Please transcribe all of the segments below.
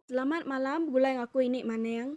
Selamat malam begulai ngaku ini maning.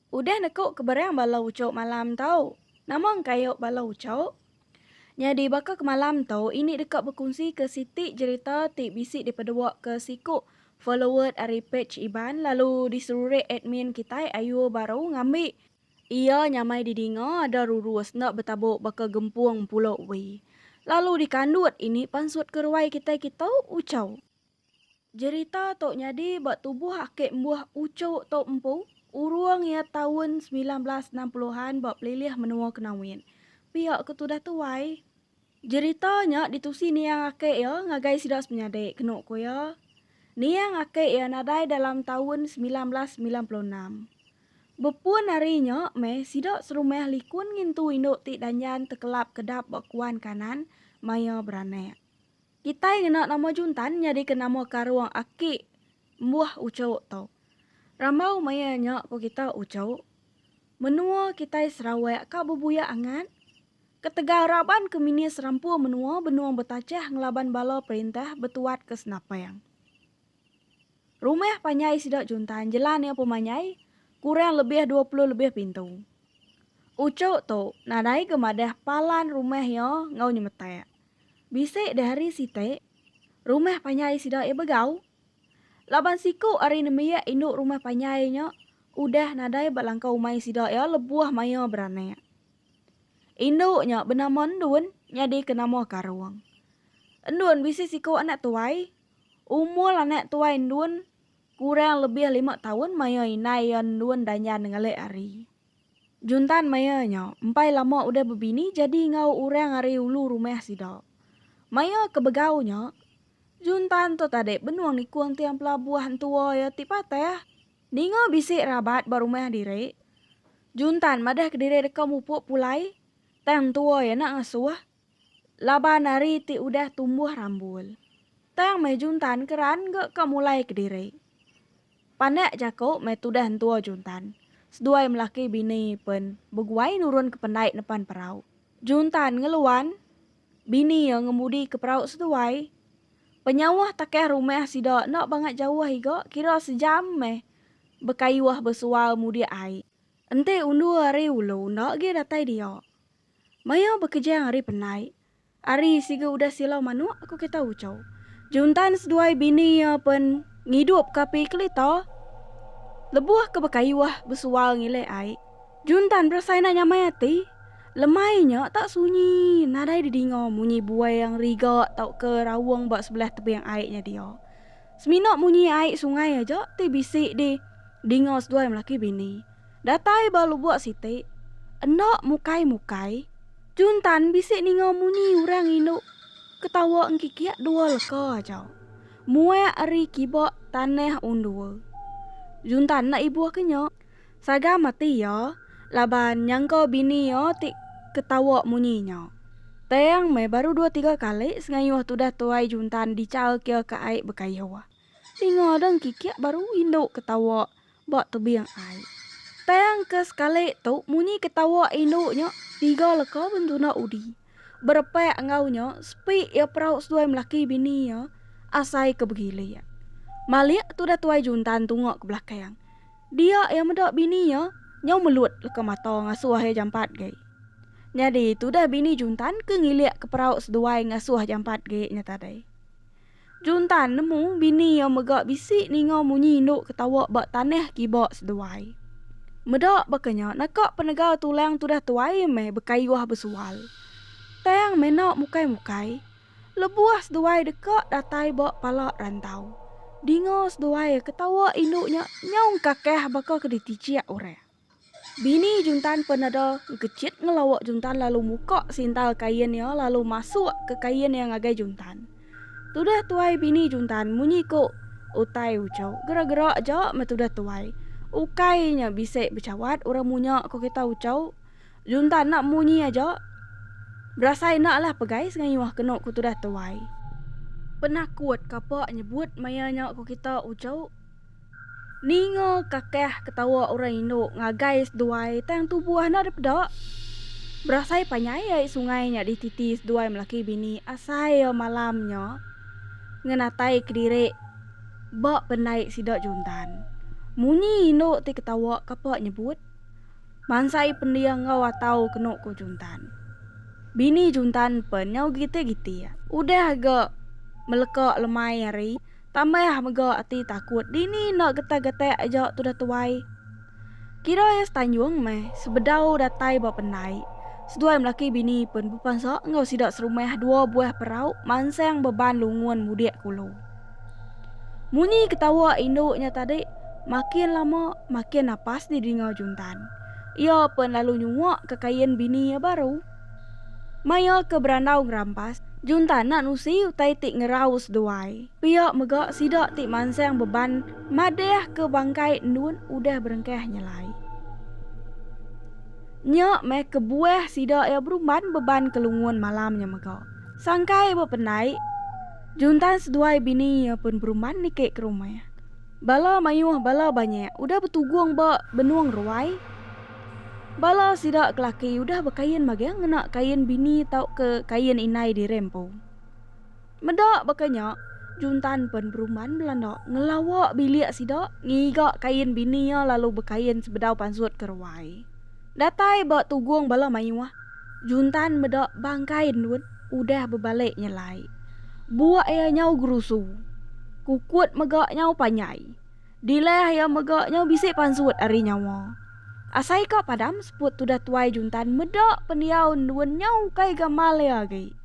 Udah nekuk keberang bala ucuk malam tau. Nama engkayuk bala ucuk? Nyadi baka ke malam tu ini deka bekunsi ke siti jerita ti bisi dipedua ke siku followed ari page Iban lalu diserurik admin kitai ayu baru ngambi iya nyamai didinga ada rurus enda betabuk baka gempung pulo wee. Lalu dikandut ini pansut ke ruai kitai kitu ucuk. Jerita tu nyadi ba tubuh aki embuh Ucho tu empu urung iya taun semilan belas enam puluh an ba pelilih menua Kenawin. Pia ke tudah tuai, jerita nya ditusi niang aki iya ngagai sida semenyadi kenu ku iya, niang aki iya nadai dalam taun semilan belas semilan puluh enam. Bepun ari nya meh sida serumah likun ngintu indu ti danjan tekelap kedap ba kuan kanan maya beranak. Kitai ngena nama Juntan nyadika nama karung aki embuh ujuk tu. Rambau maya nya ku kita ujuk. Menua kitai Sarawak ka bebuyak angat. Ketegal raban ke minis rampu menua benung betachah ngelaban bala perintah betuat ke senapang. Rumah panjai sida Juntan jelan iya pemanyai kurang lebih dua puluh lebih pintu. Ujuk tu nadai ga madah palan rumah iya enggau nyemetak. Bisi deh hari siti, rumah panjai sida iya begau. Laban siku ari nembiak indu rumah panjai nya udah nadai ba langkau umai sida iya lebuh maya beranak. Indu nya benama Endun nyadi ke nama Karong. Endun bisi siku anak tuai. Umur anak tuai Endun kurang lebih lima taun maya indai iya Endun danjan ngelik hari. Juntan maya nya empai lama udah bebini jadi enggau orang ari ulu rumah sida. Maya ke begau nya, Juntan tu tadi benung nikung tiang pelabuh entua iya ti patah. Ninga bisi rabat ba rumah diri, Juntan madahka diri deka mupuk pulai, tang entua iya enda ngasuh. laban ari ti udah tumbuh rambul. Tang meh Juntan keran engga ka mulai kediri. Pandak jaku meh tudah entua Juntan, seduai melaki bini pen beguai nurunka pendai nepan perau. Juntan ngeluan, bini iya ngemudika perau seduai. Penyauh takah rumah sida enda bangat jauh iga kira sejam meh bekayuh besual mudik ai. Enti undur ari ulu enda agi datai dia. Mayau bekejang ari penai. Ari siga udah silau manuk aku kita ucau. Juntan seduai bini iya pen ngidup ke api kelita. Lebuh ke bekayuh besual ngilih ai. Juntan berasai enda nyamai ati. Lemai nya tak sunyi nadai didinga munyi buai yang riga tauka raung ba sebelah tebing ai nya dia. Semina munyi ai sungai aja ti bisi di dinga seduai melaki bini. Datai ba lubuk siti, enda mukai-mukai, Jun Tan bisi ninga munyi orang indu ketawa engkikik dua leka aja. Muak ari kiba tanah undua. Jun Tan enda ibuh ke nya. Saga mati iya laban nyangka bini iya ti ketawa munyi nya. Tang meh baru dua tiga kali sengayuh tudah tuai Jun Tan dichal kia ke ai bekayoh. Ninga deh engkikik baru indu ketawa ba tebing ai. Tang ke sekali tu munyi ketawa indu nya tiga leka bentuna udi. Berepak enggau nya sepi iya perau seduai melaki bini iya asai ke begilik. Malik tudah tuai Juntan tunga ke belakang. Dia iya meda bini iya nyau melut leka mata ngasuh iya jampat gai. Nyadi tudah bini Juntan ke ngilik ke perau seduai ngasuh jampat gai nya tadi. Juntan nemu bini iya mega bisi ninga munyi indu ketawa ba tanah kiba seduai. Meda baka nya naka penega tulang tudah tuai meh bekayuh besual. Tang mena mukai-mukai, lebuh seduai deka datai ba pala rantau, dinga seduai ketawa indu nya nyau engkakah baka ke diticik orang. Bini Juntan peneda ngkecit ngelawa Juntan lalu muka sintal kain iya lalu masuk ke kain iya ngagai Juntan. Tudah tuai bini Juntan munyi ku Utai Ucho gera-gera aja meh tudah tuai. Ukai nya bisi bechawat orang munya ku kita Ucho. Juntan enda munyi aja. Berasai enda lah pegai sengayuh kenu ku tudah tuai. Penakut kapa nyebut maya nya ku kita Ucho. Ninga kakah ketawa orang indu ngagai seduai tang tubuh enda dipeda. Berasai panjai ai sungai nya dititi seduai melaki bini asai iya malam nya ngenatai kediri ba pendai sida Juntan. Munyi indu ti ketawa kapa nyebut mansai pending enggau atau kenu ku Juntan. Bini Juntan pen nyau gitik-gitik. Udah ga meleka lemai hari Tambah mega ati takut dini enda getah gatak aja tudah tuai. Kira iya setanjung meh sebedau datai ba pendai. Seduai melaki bini pun bepansa enggau sida serumah dua buah perau mansang beban lungun mudik ke ulu. Munyi ketawa indu nya tadi makin lama makin napas didinga Juntan. Iya pun lalu nyuak ke kain bini iya baru. Maya ke berandau ngerampas, junta enda nusi utai ti ngeraus duai. Pia mega sida ti mansang beban madahka bangkai endun udah berengkah nyelai. Nya meh kebuah sida iya berumban beban ke lungun malam nya mega. Sangkai bependai, junta seduai bini iya pun berumban niki ke rumah. Bala mayuh bala banyek udah betugung ba benung ruai. Bala sida kelaki udah bekain mageh ngena kain bini tauka kain indai diri empu. Meda baka nya, Juntan pen Berumban Belanda ngelawa bilik sida ngiga kain bini iya lalu bekain sebedau pansut ke ruai. Datai ba tugung bala mayuh, Juntan meda bangkai endut udah bebalik nyelai. Buk iya nyau gerusu. Kukut mega nyau panjai. Dilah iya mega nyau bisi pansut ari nyawa. Asai ka padam seput tudah tuai Juntan meda pendiau endun nyau ukai gamal iya agi.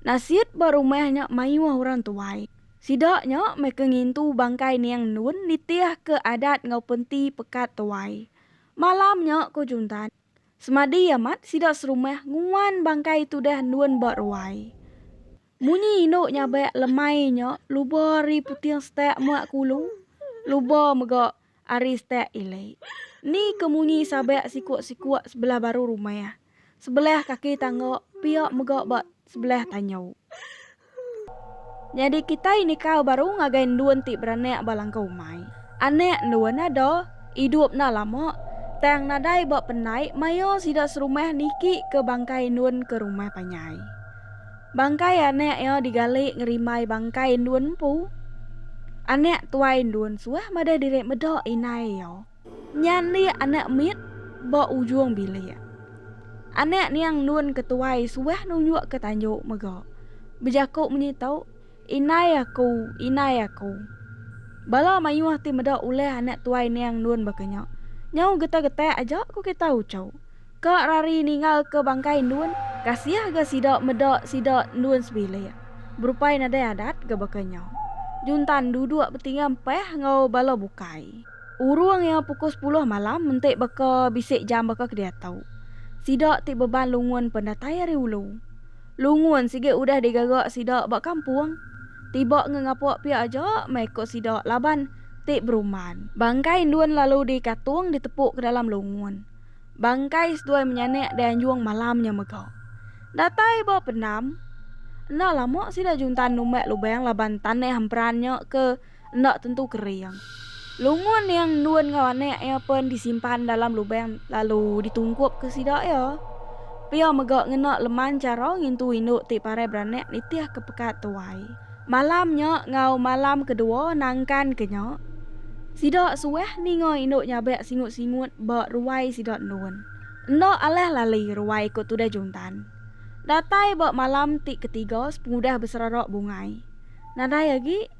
Nasit ba rumah nya mayuh orang tuai. Sida nya meh ke ngintu bangkai niang endun nitihka adat enggau penti pekat tuai. Malam nya, ku Juntan, semadi amat sida serumah nguan bangkai tudah endun ba ruai. Munyi indu nyabak lemai nya luba ari puting setak muak kulu, luba mega ari setak ilik. Ni ke munyi sabak sikuk-sikuk sebelah baru rumah. Sebelah kaki tangga pia mega ba sebelah tanyu. Nyadi kitai nikal baru ngagai endun ti beranak ba langkau umai. Anak endun ada, idup enda lama, tang nadai ba pendai maya sida serumah niki ke bangkai endun ke rumah panjai. Bangkai anak iya digali ngerimbai bangkai endun empu. Anak tuai endun suah madah diri meda inai iya. Nya enda anak mit ba ujung bilik. Anak niang nun ke tuai suah nunjuk ke tanju mega. Bejaku menyi tu, Inai aku, inai aku. Bala mayuh ti meda ulah anak tuai niang nun baka nya. Nyau getak-getak aja ku kita uchu. Ka rari ninggal ke bangkai nun, kasiah ga sida meda sida nun sebilik. Berupai nadai adat ga baka nya. Juntan duduk betinga empah enggau bala bukai. Urung iya pukul sepuluh malam enti baka bisi jam baka ke diatu. Sida ti beban lungun pen datai ari ulu. Lungun sigi udah digaga sida ba kampung. Tiba ngengapa pia aja meh ko sida laban ti berumban. Bangkai indun lalu dikatung ditepu ke dalam lungun. Bangkai seduai menyanak dianjung malam nya mega. Datai ba pendam. Enda lama sida juntan numbak lubang laban tanah emperan nya ke. enda tentu kering. Lungun yang endun enggau anak iya pen disimpan dalam lubang lalu ditungkupka sida iya. Pia mega ngena leman chara ngintu indu ti parai beranak nitihka pekat tuai. Malam nya enggau malam kedua nangkanka nya, sida suah ninga indu nyabak singut-singut ba ruai sida endun. Enda alah lali ruai ku Tudah Juntan. Datai ba malam ti ketiga sepengudah beserara bungai. Nadai agi.